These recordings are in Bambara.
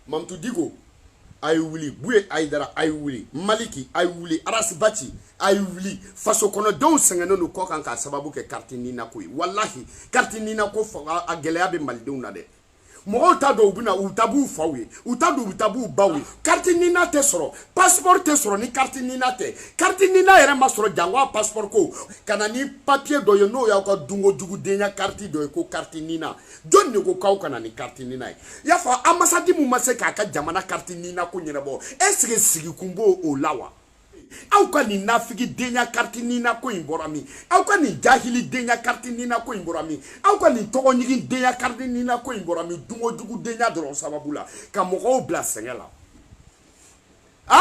mamutu diko a ye wuli buye ayidara a ye wuli maliki a ye wuli arasibati a ye wuli faso kɔnɔdenw sɛgɛnnen don kɔkan k'a sababu kɛ kariti nina ko ye walahi kariti nina ko a gɛlɛya bɛ malidenw na dɛ mɔgɔw t'a dɔn u bɛna u taa b'u faw ye u t'a dɔn u taa b'u baw ye kariti nina tɛ sɔrɔ pasipɔri tɛ sɔrɔ ni kariti nina tɛ kariti nina yɛrɛ ma sɔrɔ jango a pasipɔri ko ka na ni papiye dɔ ye n'o y'aw ka dunkojugudenya kariti dɔ ye ko kariti nina jɔni de ko k'aw ka na ni kariti nina ye i y'a fɔ anbasadi min ma se k'a ka jamana kariti nina ko ɲɛnabɔ ɛsike sigikun b'o o la wa aw ka nin nafigi denya kariti nina ko in bɔra min aw ka nin jahili denya kariti nina ko in bɔra min aw ka nin tɔgɔɲigin denya kariti nina ko in bɔra min dunkojugu denya dɔrɔn sababu la ka mɔgɔw bila sɛgɛn la a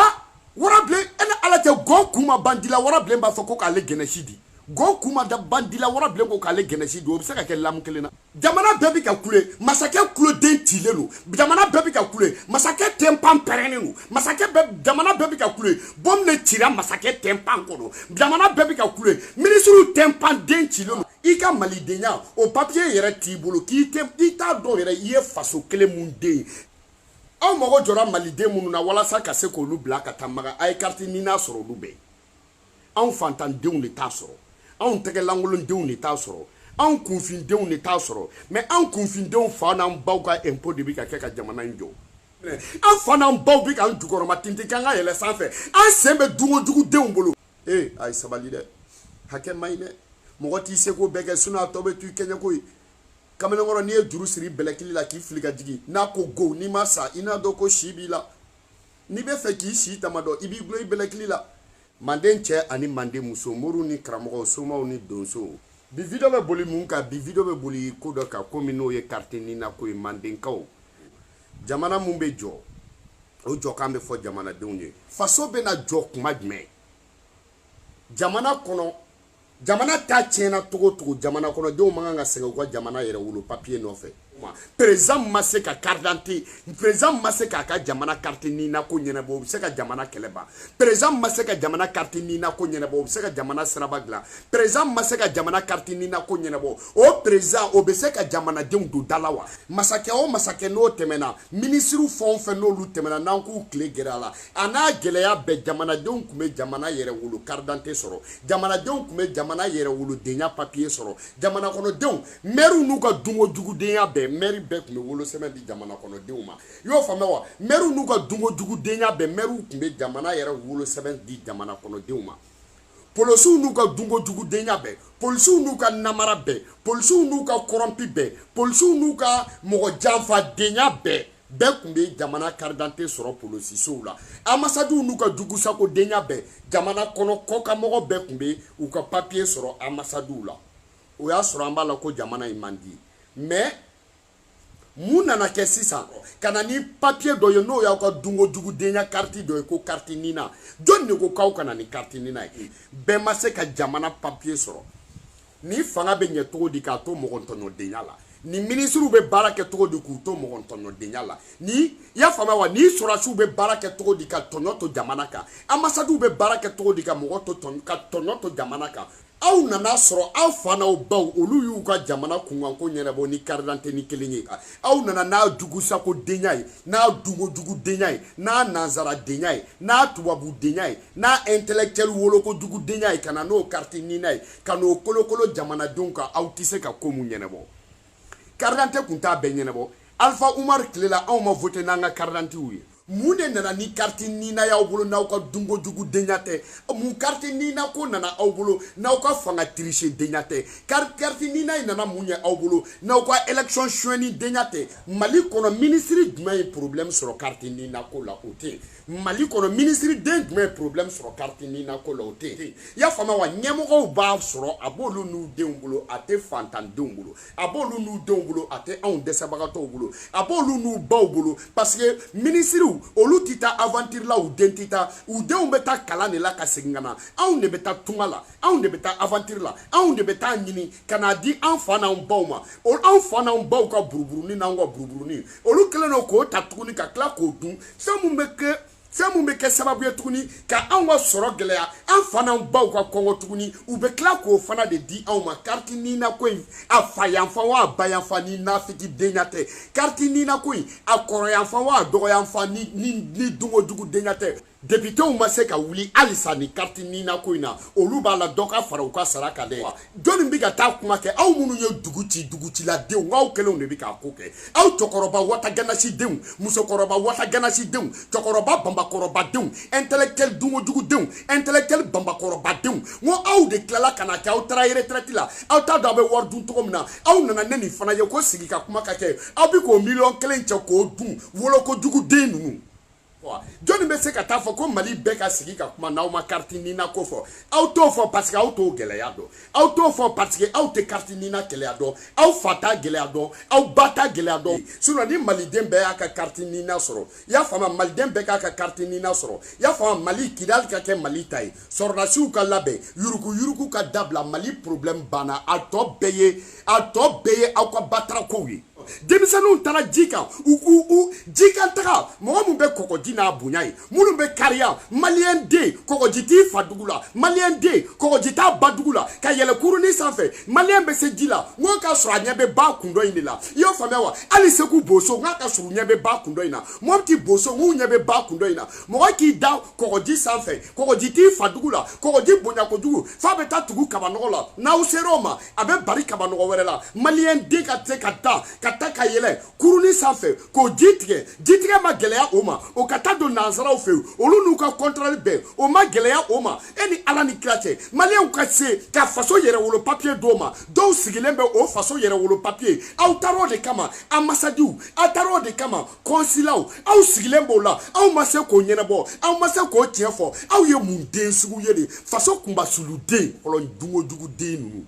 warabilen e ni ala cɛ gɔn kun ma ban di la warabilen b'a fɔ ko k'ale gɛnɛsi di gɔn kun ma da ban di la warabilen ko k'ale gɛnɛsi di o bɛ se ka kɛ lamu kelen na jamana bɛɛ bɛ ka kule masakɛ kuloden cilen don jamana bɛɛ bɛ ka kule masakɛ tɛnpan pɛrɛnnen don masakɛ jamana bɛɛ bɛ ka kule bɔmu de cira masakɛ tɛnpan kɔnɔ jamana bɛɛ bɛ ka kule minisiriw tɛnpan den cilen don i ka malidenya o papiye yɛrɛ t'i bolo i t'a dɔn yɛrɛ i ye faso kelen mun den aw mago jɔra maliden minnu na walasa ka se k'olu bila ka taa maka a ye kariti nina sɔrɔ olu bɛɛ anw fantandenw de t'a sɔrɔ anw tɛgɛlankolondenw de t'a sɔrɔ anw kunfindenw de t'a sɔrɔ mɛ anw kunfindenw fa n'an baw ka ɛnpo de bɛ ka kɛ ka jamana in jɔ an fa n'an baw bɛ k'an jukɔrɔma tintin k'an ka yɛlɛ sanfɛ an sen bɛ dunkojugudenw bolo ee a ye sabali dɛ hakɛ man ɲi dɛ mɔgɔ t'i seko bɛɛ kɛ sinɔn a tɔ bɛ to i kɛɲɛko ye kamalenkɔrɔ n'i ye juru siri i bɛlɛkili la k'i fili ka jigin n'a ko go n'i ma sa i n'a dɔn ko si b'i la n'i bɛ fɛ k'i si tama dɔn i b'i gulon i bɛlɛkili la manden cɛ ani manden muso moriw ni karamɔgɔw somaw ni donsow bi video bɛ boli mun kan bi video bɛ boli ko dɔ kan ko min n'o ye kariti nina ko ye mandenkaw jamana mun bɛ jɔ o jɔkan bɛ fɔ jamanadenw ye faso bɛna jɔ kuma jumɛn jamana kɔnɔ jamana ta tiɲɛna togo togo jamana kɔnɔdenw man kan ka sɛgɛn u ka jamana yɛrɛ wolo papiye nɔfɛ perezan ma se ka karidante perezan ma se k'a ka jamana kariti nina ko ɲɛnabɔ o bɛ se ka jamana kɛlɛ ban perezan ma se ka jamana kariti nina ko ɲɛnabɔ o bɛ se ka jamana siraba dilan perezan ma se ka jamana kariti nina ko ɲɛnabɔ o perezan o bɛ se ka jamanadenw don da la wa masakɛ o masakɛ n'o tɛmɛna minisiriw fɛn o fɛn n'olu tɛmɛna n'an k'u tile gɛrɛ a la a n'a gɛlɛya bɛɛ jamanadenw tun bɛ jamana yɛrɛ wolo karidante sɔrɔ jamanadenw tun bɛ jamana yɛrɛ wolodenya papiye sɔrɔ jamana kɔnɔdenw mɛriw n'u ka dunko jugudenya bɛɛ mɛri bɛɛ tun bɛ wolosɛbɛn di jamana kɔnɔdenw ma i y'o faamuya wa mɛriw n'u ka dunko jugudenya bɛɛ mɛriw tun bɛ jamana yɛrɛ wolosɛbɛn di jamana kɔnɔdenw ma polisiw n'u ka dunko jugudenya bɛɛ polisiw n'u ka namara bɛɛ polisiw n'u ka kɔrɔnpi bɛɛ polisiw n'u ka mɔgɔ janfadenya bɛɛ bɛɛ tun bɛ jamana karidante sɔrɔ polosisow la anbasadiw n'u ka jugusakodenya bɛɛ jamana kɔnɔ kɔkanmɔgɔ bɛɛ tun bɛ u ka papiye sɔrɔ anbasadiw la o y'a sɔrɔ an b'a la ko jamana in man di mais mun nana kɛ sisan ka na ni papiye dɔ ye n'o y'aw ka dunko jugudenya kariti dɔ ye ko kariti nina jɔni de ko k'aw ka na ni kariti nina ye bɛɛ ma se ka jamana papiye sɔrɔ ni fanga bɛ ɲɛ cogo di k'a to mɔgɔntɔɲɔdenya la ni minisiriw bɛ baara kɛ cogo di k'u to mɔgɔntɔɲɔdenya la ni i y'a faamuya wa ni sɔrɔdasiw bɛ baara kɛ cogo di ka tɔɲɔ to jamana kan anbasadiw bɛ baara kɛ cogo di ka mɔgɔ to ka tɔɲɔ to jamana kan aw nana sɔrɔ aw fa n'aw baw olu y'u ka jamana kunkanko ɲɛnabɔ ni karidante nin kelen ye aw nana n'a jugusako denya ye n'a dunko jugu denya ye n'a nanzara denya ye n'a tubabu denya ye n'a intellectuel woloko jugu denya ye ka na n'o kariti nina ye ka n'o kolokolo jamanadenw kan aw tɛ se ka ko mun ɲɛnabɔ karidante tun t'a bɛɛ ɲɛnabɔ alifa umaru tile la anw ma vote n'an ka karidantew ye mun de nana ni kariti nina y'aw bolo n'aw ka dunko jugu denya tɛ mun kariti nina ko nana aw bolo n'aw ka fanga tirise denya tɛ kariti nina in nana mun ye aw bolo n'aw ka élection suɲɛni denya tɛ mali kɔnɔ minisiri jumɛn ye problème sɔrɔ kariti nina ko la o tɛ yen mali kɔnɔ minisiriden jumɛn ye problème sɔrɔ kariti nina ko la o tɛ yen i y'a faamuya wa ɲɛmɔgɔw b'a sɔrɔ a b'olu n'u denw bolo a tɛ fantandenw bolo a b'olu n'u denw bolo a tɛ anw dɛsɛbagatɔw bolo a b'olu n'u baw bolo parce que minisiriw olu tɛ taa aventure la u den tɛ taa u denw bɛ taa kalan de la ka segin ka na anw de bɛ taa tunga la anw de bɛ taa aventure la anw de bɛ taa ɲini ka n'a di an fa n'an baw ma anw fa n'an baw ka buruburunin n'anw ka buruburunin olu kɛlen don k'o ta tuguni ka tila k'o dun fɛn mun bɛ kɛ fɛn mun bɛ kɛ sababu ye tuguni ka anw ka sɔrɔ gɛlɛya an fa n'an baw ka kɔngɔ tuguni u bɛ tila k'o fana de di anw ma kariti ninako in a fa yanfan wa a ba yanfan ni nafiki denya tɛ kariti ninako in a kɔrɔ yanfan wa a dɔgɔ yanfan ni ni ni dunko jugu denya tɛ depitew ma se ka wuli halisa ni kariti ninako in na olu b'a la dɔ ka fara u ka sara kan dɛ jɔnni bɛ ka taa kuma kɛ aw minnu ye dugu ci dugu ciladenw aw kelenw de bɛ k'a ko kɛ aw cɛkɔrɔba watagannasidenw musokɔrɔba watagannasidenw cɛkɔrɔba banbakɔrɔbadenw intellectuel dunkojugudenw intellectuel banbakɔrɔbadenw n ko aw de tilala ka na kɛ aw taara retraite la aw t'a dɔn aw bɛ wari dun cogo min na aw nana ni nin fana ye ko sigi ka kuma ka kɛ aw bɛ k'o miliyɔn kelen cɛ k'o dun wolokojuguden ninnu jɔnni bɛ se ka taa fɔ ko mali bɛɛ ka sigi ka kuma n'aw ma kariti nina ko fɔ aw t'o fɔ paseke aw t'o gɛlɛya dɔn aw t'o fɔ paseke aw tɛ kariti nina gɛlɛya dɔn aw fa t'a gɛlɛya dɔn aw ba t'a gɛlɛya dɔn sinɔn ni maliden bɛɛ y'a ka kariti nina sɔrɔ i y'a faamu maliden bɛɛ k'a ka kariti nina sɔrɔ i y'a faamu mali kidali ka kɛ mali ta ye sɔrɔdasiw ka labɛn yurugu yurugu ka dabila mali problɛmu banna a tɔ bɛɛ ye a tɔ bɛɛ ye aw ka batarakow ye denmisɛnninw taara ji kan u u u ji kan taga mɔgɔ min bɛ kɔkɔji n'a bonya ye minnu bɛ kariya maliyɛn den kɔkɔji t'i fa dugu la maliyɛn den kɔkɔji t'a ba dugu la ka yɛlɛ kurunin sanfɛ maliyɛn bɛ se ji la n ko k'a sɔrɔ a ɲɛ bɛ ba kun dɔ in de la i y'o faamuya wa hali segu boso n k'a ka sɔrɔ u ɲɛ bɛ ba kun dɔ in na mɔpiti boso n k'u ɲɛ bɛ ba kun dɔ in na mɔgɔ k'i da kɔkɔji sanfɛ kɔkɔji t'i fa dugu la kɔkɔji bonya kojugu f'a bɛ taa tugu kabanɔgɔ la n'aw ser'o ma a bɛ bari kabanɔgɔ wɛrɛ la maliyɛn den ka se ka taa ka taa ka yɛlɛ kurunin sanfɛ k'o ji tigɛ ji tigɛ ma gɛlɛya o ma o ka taa don nansaraw fɛ olu n'u ka kɔntɔrɔli bɛɛ o ma gɛlɛya o ma e ni ala ni kira cɛ maliyɛnw ka se ka faso yɛrɛwolo papiye d'o ma dɔw sigilen bɛ o faso yɛrɛwolo papiye aw taar'o de kama anbasadiw aw taar'o de kama kɔnsilaw aw sigilen b'o la aw ma se k'o ɲɛnabɔ aw ma se k'o tiɲɛ fɔ aw ye mun den sugu ye de faso kunbasuluden kɔlɔn dugujuguden ninnu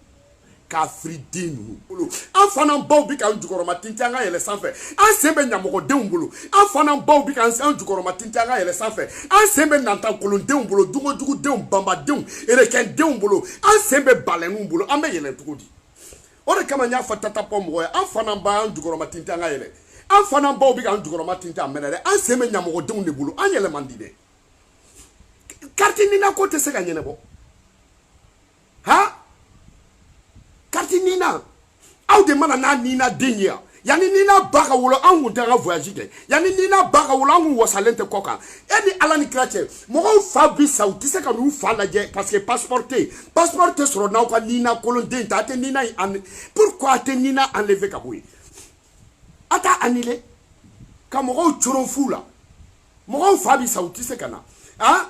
kafiriden ninnu bolo an fa n'an baw bɛ k'an jukɔrɔma tintin an ka yɛlɛ sanfɛ an sen bɛ ɲamɔgɔdenw bolo an fa n'an baw bɛ k'an an jukɔrɔma tintin an ka yɛlɛ sanfɛ an sen bɛ nantankolondenw bolo dugujugudenw banbadenw erekɛndenw bolo an sen bɛ balɛninw bolo an bɛ yɛlɛ cogo di o de kama n y'a fɔ tata pɔ mɔgɔ ye an fa n'an ba an jukɔrɔma tintin an ka yɛlɛ an fa n'an baw bɛ k'an jukɔrɔma tintin a mɛnɛ dɛ an sen bɛ ɲamɔgɔdenw de bolo an yɛlɛ man di dɛ kariti nina ko tɛ se ka ɲɛnabɔ ha kariti nina aw de mana n'a nina den ye yan yanni nina ba ka wolo an kun tɛ ka voyage kɛ yanni nina ba ka wolo an kun wasalen tɛ kɔ kan e ni ala ni kira cɛ mɔgɔw fa bi sa u tɛ se ka n'u fa lajɛ parce que passeport tɛ yen passeport tɛ sɔrɔ n'aw ka nina kolonden ta a tɛ nina in pourquoi a tɛ nina enlever ka bɔ yen a t'a annuler ka mɔgɔw coron fu la mɔgɔw fa bi sa u tɛ se ka na ah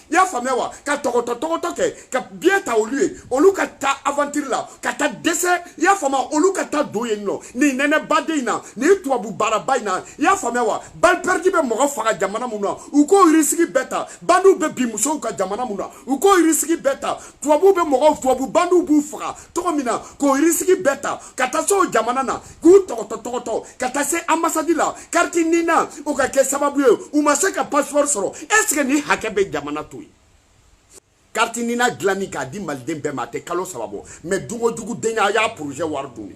i y'a faamuya wa ka tɔgɔtɔ tɔgɔtɔ kɛ ka biyɛ ta olu ye olu ka taa avantiri la ka taa dɛsɛ i y'a faamuya olu ka taa don yen nɔ nin nɛnɛbaden in na nin tubabu baaraba in na i y'a faamuya wa balipɛridi bɛ mɔgɔ faga jamana mun na u k'o risiki bɛɛ ta bandiw bɛ bin musow kan jamana mun na u k'o risiki bɛɛ ta tubabuw bɛ mɔgɔw tubabu bandiw b'u faga cogo min na k'o risiki bɛɛ ta ka taa se o jamana na k'u tɔgɔtɔ tɔgɔtɔ ka taa se anbasadi la kariti nina o ka kɛ sababu ye u ma se ka pasipɔri sɔrɔ ɛseke nin hakɛ bɛ jamana to yen kariti nina dilanni k'a di maliden bɛɛ ma a tɛ kalo saba bɔ mɛ dunkojugu denya a y'a porozɛ wari dun de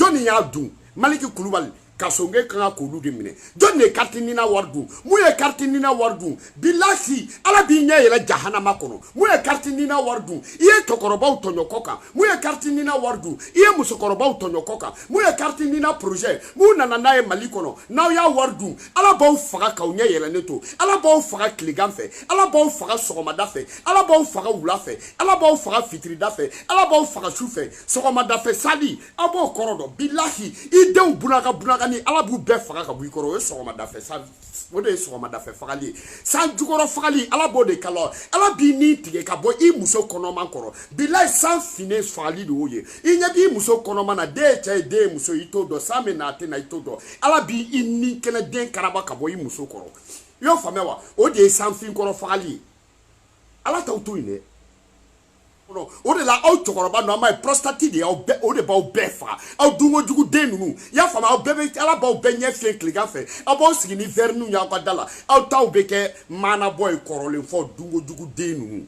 jɔnni y'a dun maliki kulubali kasoge kan ka k'olu de minɛ jɔnni ye kariti nina wari dun mun ye kariti nina wari dun bilahi ala b'i ɲɛ yɛlɛ jahanama kɔnɔ mun ye kariti nina wari dun i ye cɛkɔrɔbaw tɔɲɔ kɔkan mun ye kariti nina wari dun i ye musokɔrɔbaw tɔɲɔ kɔkan mun ye kariti nina porozɛ mun nana n'a ye mali kɔnɔ n'aw y'a wari dun ala b'aw faga k'aw ɲɛ yɛlɛnnen to ala b'aw faga tilegan fɛ ala b'aw faga sɔgɔmada fɛ ala b'aw faga wula fɛ ala b'aw faga fitirida fɛ ala b'aw faga su fɛ sɔgɔmada fɛ sali aw b'o kɔrɔ dɔn bilahi i denw bunaka bunaka ni ala b'u bɛɛ faga ka bɔ i kɔrɔ o ye sɔgɔmada fɛ sali o de ye sɔgɔmadafɛ fagali ye san jukɔrɔ fagali ala b'o de k'a la ala b'i ni tigɛ ka bɔ i muso kɔnɔma kɔrɔ bilayi san finnen fagali de y'o ye i ɲɛ b'i muso kɔnɔma na den ye cɛ ye den ye muso i t'o dɔn san bɛ na a tɛ na i t'o dɔn ala b'i i ni kɛnɛ den karaba ka bɔ i muso kɔrɔ i y'o faamuya wa o de ye sanfin kɔrɔ fagali ye ala t'aw to yen dɛ o de la aw cɛkɔrɔba ninnu an b'a ye prostate de y'aw bɛɛ o de b'aw bɛɛ faga aw dunkojugu den ninnu i y'a faamu aw bɛɛ bɛ ala b'aw bɛɛ ɲɛ fiɲɛ tilegan fɛ aw b'aw sigi ni vɛriniw y'aw ka da la aw taw bɛ kɛ maanabɔ ye kɔrɔlen fɔ dunkojugu den ninnu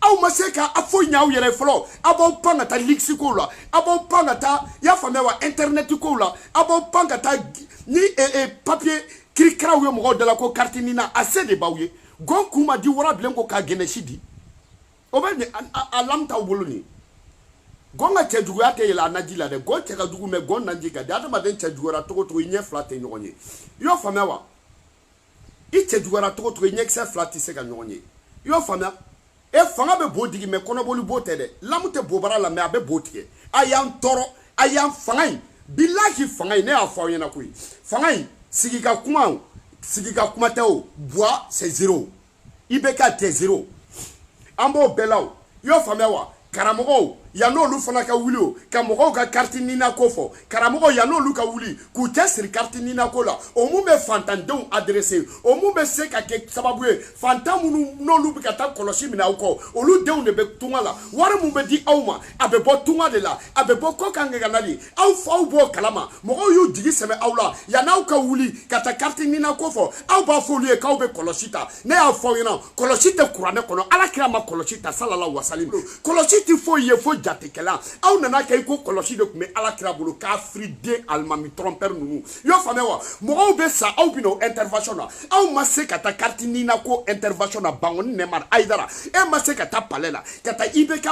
aw ma se ka foyi ɲɛ aw yɛrɛ fɔlɔ aw b'aw pan ka taa ligisi kow la aw b'aw pan ka taa i y'a faamuya wa intɛrinɛti kow la aw b'aw pan ka taa ni papiye kirikiraw ye mɔgɔw da la ko kariti nina a se de b'aw ye gɔn kun ma di warabilen ko k'a gɛnɛsi di o bɛ a lamu t'aw bolo nin gɔn ka cɛjuguya tɛ yɛlɛ a naji la dɛ gɔn cɛ ka jugu mɛ gɔn naji ka di adamaden cɛjuguyara cogo cogo i ɲɛ fila tɛ ɲɔgɔn ye i y'o faamuya wa i cɛjuguyara cogo cogo i ɲɛkisɛ fila tɛ se ka ɲɔgɔn ye i y'o faamuya e fanga bɛ bo digi mɛ kɔnɔboli bo tɛ dɛ lamu tɛ bobara la mɛ a bɛ bo tigɛ a y'an tɔɔrɔ a y'an fanga in bilahi fanga in ne y'a fɔ aw ɲɛna koyi fanga in sigi ka kuma o sigi ka kuma tɛ o buwa c'est zero ibeka tɛ zero an b'o bɛɛ la o i y'o faamuya wa karamɔgɔw yan'olu fana ka wuli o ka mɔgɔw ka kariti nina ko fɔ karamɔgɔw yan'olu ka wuli k'u cɛ siri kariti nina ko la o mun bɛ fantandenw adrese o mun bɛ se ka kɛ sababu ye fantan minnu n'olu bɛ ka taa kɔlɔsi minɛ aw kɔ olu denw de bɛ tunga la wari min bɛ di aw ma a bɛ bɔ tunga de la a bɛ bɔ kɔkan nɛgɛnali aw faw b'o kalama mɔgɔw y'u jigi sɛmɛ aw la yan'aw ka wuli ka taa kariti nina ko fɔ aw b'a fɔ olu ye k'aw bɛ kɔlɔsi ta ne y'a fɔ aw ɲɛna kɔlɔsi tɛ kuranɛ kɔnɔ ala kira ma kɔlɔsi ta salala wasali kɔlɔsi tɛ foyi ye fo jatekɛla aw nana kɛ i ko kɔlɔsi de tun bɛ ala kira bolo kafiri den alimami trompeur ninnu i y'a faamuya wa mɔgɔw bɛ sa aw bɛna o intervention na aw ma se ka taa carte nina ko intervention na bangoni nɛmar ayidara e ma se ka taa palais la ka taa ibk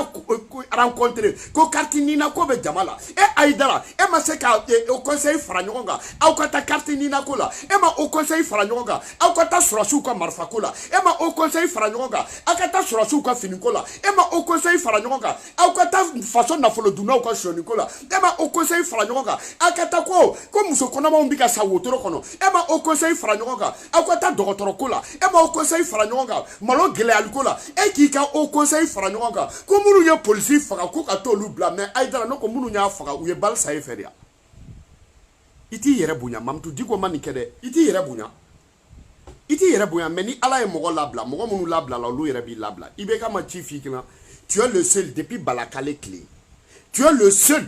rencontrer ko carte nina ko bɛ jama la e ayidara e ma se ka e, haut conseil fara ɲɔgɔn kan aw ka taa carte nina ko la e ma haut conseil fara ɲɔgɔn kan aw ka taa sɔrɔdasiw ka marifa ko la e ma haut conseil fara ɲɔgɔn kan aw ka taa sɔrɔdasiw ka fini ko la e ma haut conseil fara ɲɔgɔn kan aw ka taa faso nafolo dunnaw ka sonyani ko la e ma haut conseil fara ɲɔgɔn kan aw ka taa ko ko muso kɔnɔmaw bɛ ka sa wotoro kɔnɔ e ma haut conseil fara ɲɔgɔn kan aw ka taa dɔgɔtɔrɔ ko la e ma haut conseil fara ɲɔgɔn kan malo gɛlɛyali ko la e k'i ka haut conseil fara ɲɔgɔn kan ko minnu ye polisi faga ko ka t'olu bila mais ayidara ne ko minnu y'a faga u ye bali sa e fɛ de ya i t'i yɛrɛ bonya mamutu diko ma nin kɛ dɛ i t'i yɛrɛ bonya i t'i yɛrɛ bonya mais ni ala ye mɔgɔ labila mɔgɔ minnu labilala olu yɛrɛ b'i labila ibk ma ci f'i kunna tu es le seul depuis balakale tile tu es le seul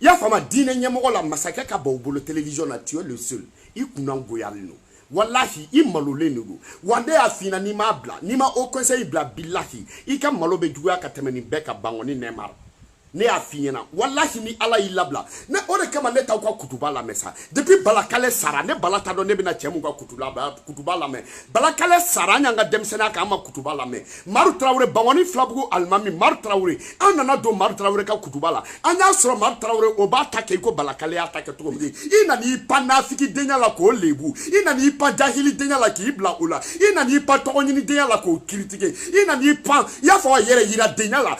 i y'a faamu diinɛ ɲɛmɔgɔ la masakɛ ka ban u bolo télévision na tu es le seul i kunna goyalen don walahi i malolen de don wa ne y'a f'i ɲɛna n'i m'a bila n'i ma haut conseil bila bilahi i ka malo bɛ juguya ka tɛmɛ nin bɛɛ kan bangɔni nɛmar ne y'a f'i ɲɛna walahi ni ala y'i labila ne o de kama ne t'aw ka kutuba lamɛn sa depuis balakale sara ne bala t'a dɔn ne bɛna cɛ mun ka kutuba kutuba lamɛn balakale sara an y'an ka denmisɛnninya kɛ an ma kutuba lamɛn maru tarawele bangɔni filabugu alimami maru tarawele an nana don maru tarawele ka kutuba la an y'a sɔrɔ maru tarawele o b'a ta kɛ i ko balakale y'a ta kɛ cogo min i nana i pan nafiki denya la k'o lebu i nana i pan jahili denya la k'i bila o la i nana i pan tɔgɔ ɲini denya la k'o kiritike i nana i pan i y'a fɔ a yɛrɛ yira denya la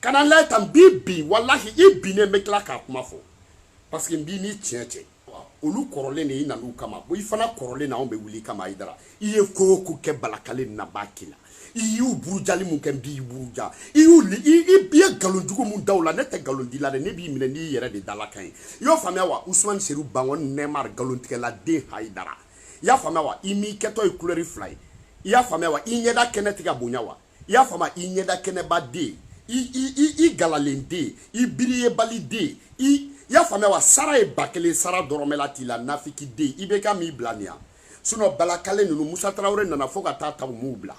ka na lajɛ tan n b'i bin walahi i binnen n bɛ tila k'a kuma fɔ parce que n b'i ni tiɲɛ cɛ olu kɔrɔlen de i nan'u kama i fana kɔrɔlen na anw bɛ wuli i kama ayidara i ye ko o ko kɛ balakale la n b'a k'i la i y'u burujali mun kɛ n b'i buruja i y'u li i i i ye nkalon jugu mun da u la ne tɛ nkalon d'i la dɛ ne b'i minɛ n'i yɛrɛ de dalakan ye i y'o faamuya wa usumani seru bangɔni nɛmar nkalontigɛla den hayidara i y'a faamuya wa i m'i kɛtɔ ye kulɛri fila ye i y'a faamuya wa i ɲɛda kɛnɛ tɛ ka bonya wa i y'a faamu i ɲɛda kɛnɛba den i galalen den i biriyebali den i y'a faamuya wa sara ye ba kelen sara dɔrɔmɛ la t'i la nafiki den ibk m'i bila nin yan sinon balakale ninnu musa tarawele nana fo ka taa ta u m'u bila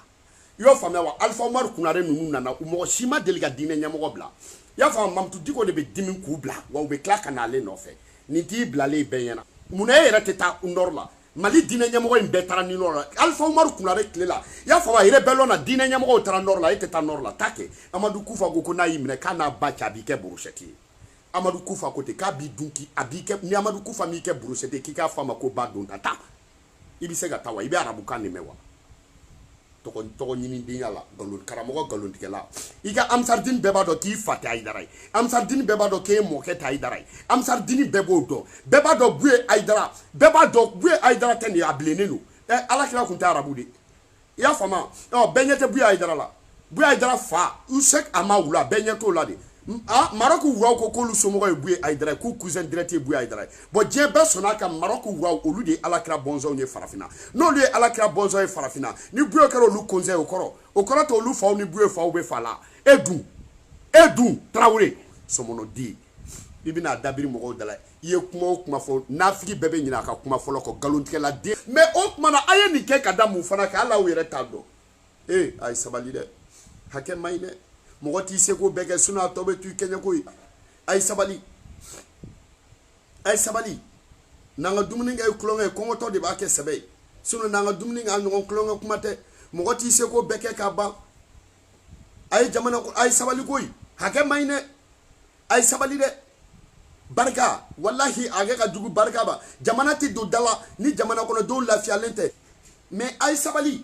i y'o faamuya wa alifa umaru konare ninnu nana u mɔgɔ si ma deli ka diinɛ ɲɛmɔgɔ bila i y'a faamu mamutu diko de bɛ dimi k'u bila wa u bɛ tila ka n'ale nɔfɛ nin t'i bilalen bɛɛ ɲɛna munna e yɛrɛ tɛ taa nord la mali diinɛ ɲɛmɔgɔ in bɛɛ taara ni nord la alifa umaru konare tile la i y'a faamu a rébellion na diinɛ ɲɛmɔgɔw taara nord la e tɛ taa nord la taa kɛ amadu kufa ko ko n'a y'i minɛ k'a n'a ba cɛ a b'i kɛ brochette ye amadu kufa ko ten k'a b'i dun k'i a b'i kɛ ni amadu kufa m'i kɛ brochette ye k'i k'a fɔ a ma ko ba don taa taa i bɛ se ka taa wa i bɛ arabukan de mɛn wa tɔgɔ ɲinidenya la nkalon karamɔgɔ nkalontigɛla i ka amisardini bɛɛ b'a dɔn k'i fa tɛ ayidara ye amisardini bɛɛ b'a dɔn k'e mɔkɛ tɛ ayidara ye amisardini bɛɛ b'o dɔn bɛɛ b'a dɔn buye ayidara bɛɛ b'a dɔn buye ayidara tɛ nin ye a bilennen don ɛ alakira tun tɛ arabu de i y'a faamu ɔ bɛɛ ɲɛ tɛ buye ayidara la buye ayidara fa sek amawula bɛɛ ɲɛ t'o la de ah, marɔku ruwaw ko k'olu somɔgɔ ye buye ayidara ye k'u cousin direct ye buye ayidara ye bɔn diɲɛ bɛɛ sɔnna ko marɔku ruwaw olu de ye alakira bɔnsɔnw ye farafina n'olu ye alakira bɔnsɔn ye farafina ni buye kɛra olu cousin o kɔrɔ o kɔrɔ tɛ olu faw ni buye faw bɛ fa la e dun e dun tarawele sɔmɔnɔden i bɛna dabiri mɔgɔw da la i ye kuma o kuma fɔ nafigi bɛɛ bɛ ɲinɛ a ka kuma fɔlɔ kɔ nkalontigɛla den mɛ o tuma na a ye nin kɛ ka da mun fana kan hali aw yɛrɛ t'a dɔn ee a ye sabali dɛ hakɛ man ɲi dɛ mɔgɔ t'i seko bɛɛ kɛ sinɔn a tɔ bɛ to i kɛɲɛko ye a ye sabali a ye sabali n'an ka dumuni kɛ ye tulonkɛ ye kɔngɔtɔ de b'a kɛ sɛbɛ ye sinɔn n'an ka dumuni kɛ a ɲɔgɔn tulonkɛ kuma tɛ mɔgɔ t'i seko bɛɛ kɛ k'a ban a ye jamana a ye sabali koyi hakɛ man ɲi dɛ a ye sabali dɛ barika walahi hakɛ ka jugu barika ba jamana tɛ don da la ni jamana kɔnɔdenw lafiyalen tɛ mɛ a ye sabali